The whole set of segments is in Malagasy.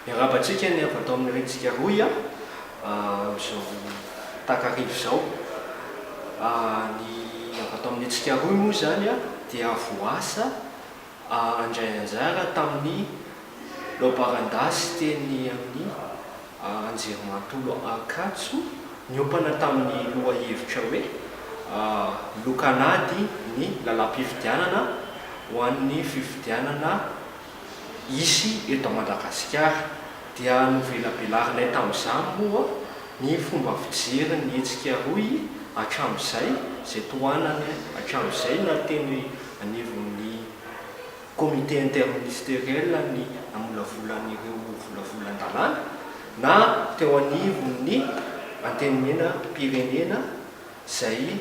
Miarahaba antsika ny avy ato amin'ny Rentsika Rohy a! amin'izao takariva izao. Ny avy ato amin'ny Hetsika Rohy moa izany a dia voasa handray anjara tamin'ny laobaran-dasy teny amin'ny Anjerimanontolo Ankatso niompana tamin'ny lohahevitra hoe Lokan'ady ny lalam-pifidianana ho an'ny fifidianana hisy eto Madagasikara dia novelabelarinay tamin'izany moa ny fomba fijery ny hetsika rohy hatramin'izay, izay tohanany hatramin'izay na teny anivon'ny Comité interministériel ny namolavolan'ireo volavolan-dalàna na teo anivon'ny Antenimieram-pirenena izay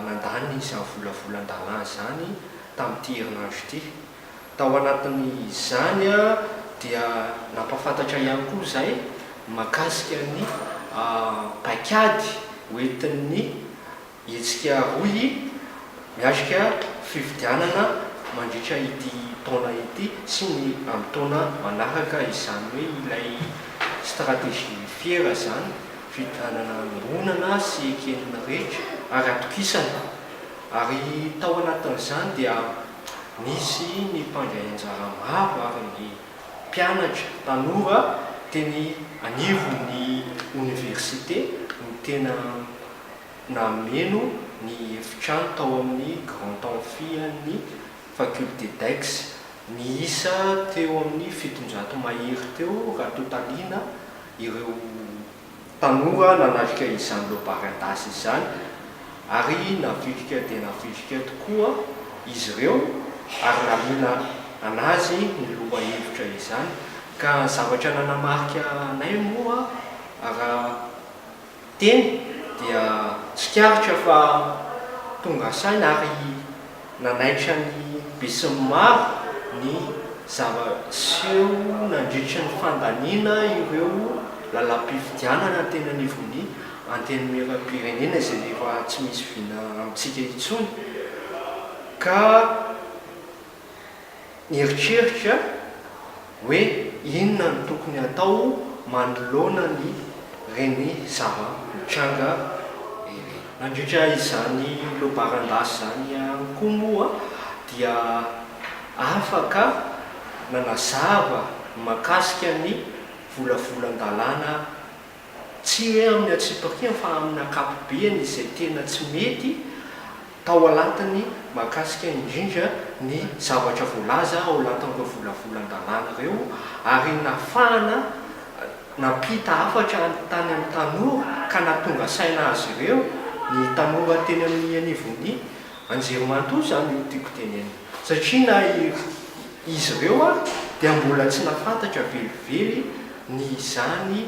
nandany izany volavolan-dalàna izany tamin'ity herinandro ity. Tao anatin'izany dia nampahafantatra ihany koa izahay mahakasika ny paikady hoentin'ny hetsika rohy miatrika fifidianana mandritra ity taona ity sy ny amin'ny taona manaraka, izany hoe ilay stratégie fier izany, fifidianana iombonana sy eken'ny rehetra ary atokisana. Ary tao anatin'izany dia. Nisy ny mpandray anjara maro ary ny mpianatra, tanora teny anivon'ny oniversite no tena nameno ny efitrano tao amin'ny Grand Amphi an'ny Faculté d'Aix. Niisa teo amin'ny fitonjato mahery teo raha totaliana ireo. tanora nanatrika izany lobarin-dasy izany ary navitrika dia navitrika tokoa izy ireo ary nahaliana an'azy ny lohahevitra izany ka ny zavatra nanamarika anay moa raha teny dia tsikaritra fa tonga saina ary Nanaitra ny besinimaro ny zava-niseho nandritra ny fandaniana ireo lalam-pifidianana teny anivon'ny Antenimierampirenena izay efa tsy misy vina amintsika intsony ka Nieritreritra hoe inona no tokony hatao manoloana ny reny zava-mitranga ireny. Nandritra izany lobaran-dasy izany ihany koa moa dia afaka nanazava ny mahakasika ny volavolan-dalàna tsy hoe amin'ny antsipiriany fa amin'ny ankapobeny izay tena tsy mety Tao alatiny mahakasika indrindra ny zavatra voalaza ao alatin'ireo volavolan-dalàna ireo ary nahafahana nampita hafatra any tany amin'ny tanora ka nahatonga saina azy ireo ny tanora teny amin'ny anivon'ny anjerimanontolo izany no tiako tenenina satria na izy ireo ary dia mbola tsy nahafantatra velively ny izany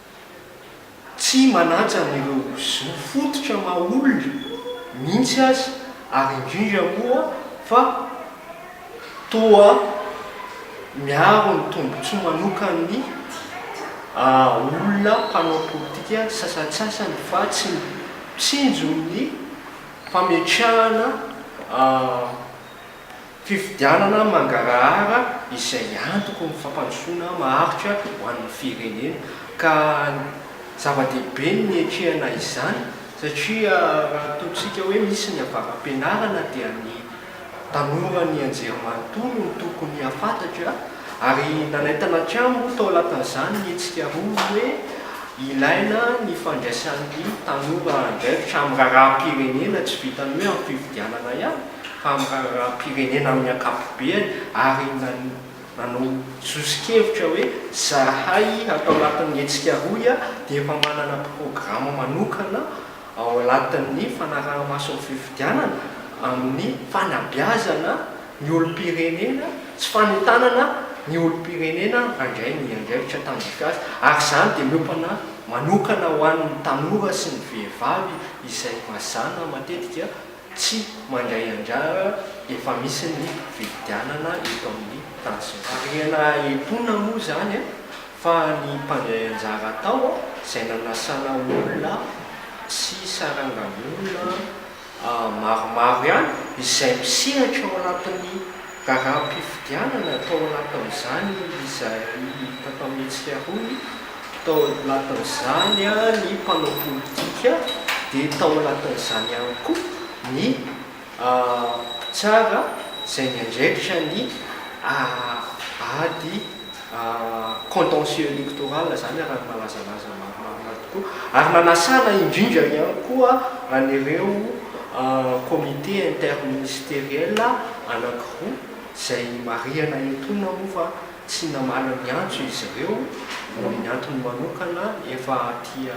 tsy manaja an'ireo zo fototra maha olona mihitsy aza ary indrindra moa fa toa miaro ny tombontsoa manokan'ny olona mpanao politika sasantsasany fa tsy mitsinjo ny fametrahana Fifidianana mangarahara izay antoko ny fampandrosoana maharitra ho an'ny firenena ka zava-dehibe ny niatrehana izany satria raha ataontsika hoe misy ny avara-pianarana dia ny tanora nianjery manontolo no tokony hahafantatra ary nanaintana hatrany moa tao anatin'izany ny hetsika roa hoe ilaina ny fandraisan'ny tanora andraikitra amin'ny raharaham-pirenena tsy vitan'ny hoe amin'ny fifidianana ihany tamin'ny raharaham-pirenena amin'ny ankapobeany ary nanao sosokevitra hoe zahay ato anatin'ny hetsika rohy dia efa manana programa manokana ao anatin'ny fanaraha-maso ny fifidianana amin'ny fanabeazana ny olom-pirenena sy fanentanana ny olom-pirenena handray ny andraikitra tandrify azy ary izany dia miompana manokana ho an'ny tanora sy ny vehivavy izay mazàna matetika Tsy mandray anjara efa misy ny fifidianana eto amin'ny tantsimo. Harena etoana moa izany an, fa ny mpandray anjara tao an, izay nanasana olona sy sarangan'olona maromaro ihany izay mpisehatra ao anatin'ny Raharaham-pifidianana tao anatin'izany izay tatamin'hetsika roa tao anatin'izany ny mpanao politika dia tao anatin'izany ihany koa ny mpitsara izay miandraikitra ny ady contentieux électoral zany araha ny malazalaza maromaro tokoa ary nanasana indrindra ihany koa an'ireo comité interministériel anankiroa izay marihana eto na moa fa tsy namaly ny antso izy ireo noho ny antony manokana efa aty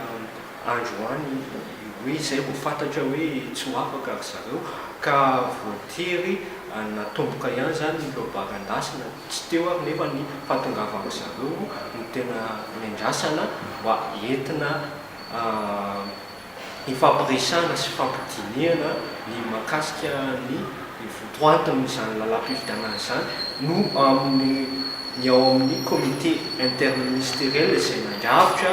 andro any hoe izay vao fantatra hoe tsy ho afaka ry zareo ka voatery natomboka ihany izany ny lobaka andrasana, tsy teo ary nefa ny fahatongavan-dry zareo no tena nendrasana mba entina hifampiresahana sy hifampidinihana ny mahakasika ny votoatin'izany lalam-pifidianana izany no amin'ny ny ao amin'ny comité interministériel izay nandrafitra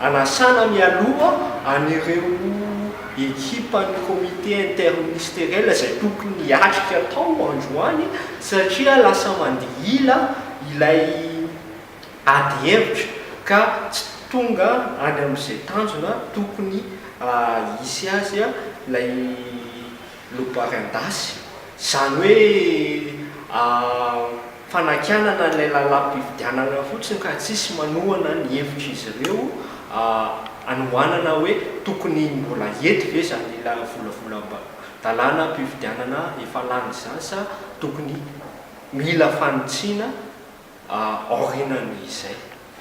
Anasana mialoha an'ireo ekipan'ny comité interministériel izay tokony hiatrika tao androany satria lasa mandeha ila ilay ady hevitra ka tsy tonga any amin'izay tanjona tokony hisy azy ilay lobary an-dasy. Izany hoe Fanakianana ilay lalàm-pifidianana fotsiny ka tsisy manohana ny hevitr'izy ireo anohanana hoe tokony mbola hety ve izany volavolan-dalànam-pifidianana efa lany izany sa tokony mila fanitsiana aorianan'izay.